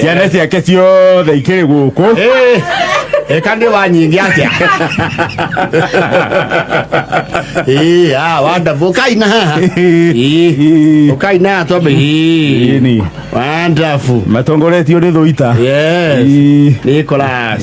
ciana ciake ciothe ikĩrĩ gũkũ Eh, eka nĩ wanyingi atĩa Eh, ah, wonderful. ũkai na haha Eh, ũkai na haha twambe Eh, Ĩni. wonderful. matongoretio nĩ thũita yes Ĩĩ. Nicholas.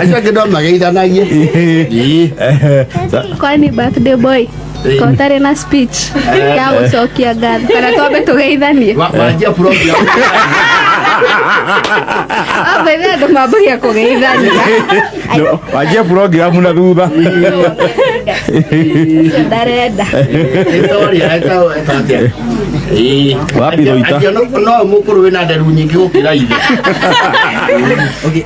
acio angä no mageithanagie Ii. kwani birthday boy ko ũtarĩ na speech ya gũcokia ngatho kana twambe tũgeithanie Wa- wanjia program. amba ithe andũ mambagia kũgeithania No, wanjie programu na thutha Ũcio ndarenda Sorry, eta- eta atĩa? Ii. Wapi Roita? Acio no- no må kå rå wä na nderu nyingä gå kä ra ithe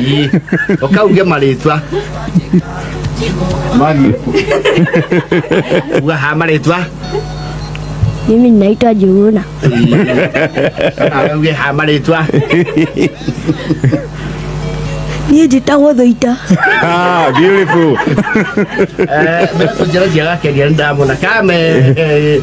Ii, ukauge maritwa mani uga ha maritwa Mimi ninaitwa Juhuna. auge ha maritwa Niĩ njĩtagwo Thũita. Ah, beautiful. Eh, mbeca njĩra njega keria nĩ ndamona kame eh,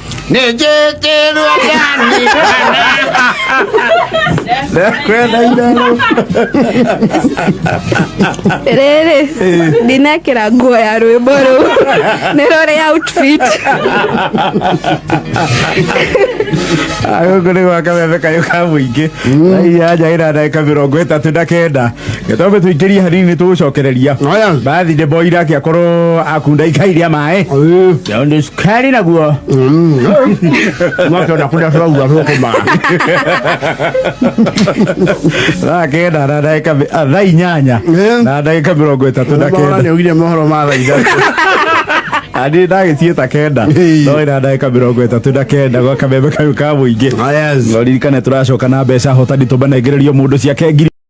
Ne je je ruwa gani Na kwenda idalo. rĩrĩ ndinekĩra nguo ya rwĩmbo rũu nĩ rũrĩ outfit Agũkũ nĩ gwaka wembe kayũ ka mũingĩ. Ai ya njagira ndagĩka mĩrongo ĩtatũ na kenda. Gĩtombe tũingĩrie hanini tũgũcokereria. Oya. Bathi nĩ boira akĩakorwo akunda ikai rĩa maĩ. Ĩĩ. Ndio ndio Keri naguo. Mwake unakuja tu au hapo kama. Na kenda na dakika mi- ah, thaa inyanya Eh. na dakika mĩrongo ĩtatũ na Bora kenda ni ugire mohoro ma thaa ithatũ. ani ndagĩciĩ ta kenda Hey. no ĩna ndagĩka mĩrongo ĩtatũ na kenda gwa kameme kau ka mũingĩ Ah, yes. no ririkane tũracoka na mbeca hotani tũmanengererio mũndũ ciake ngiri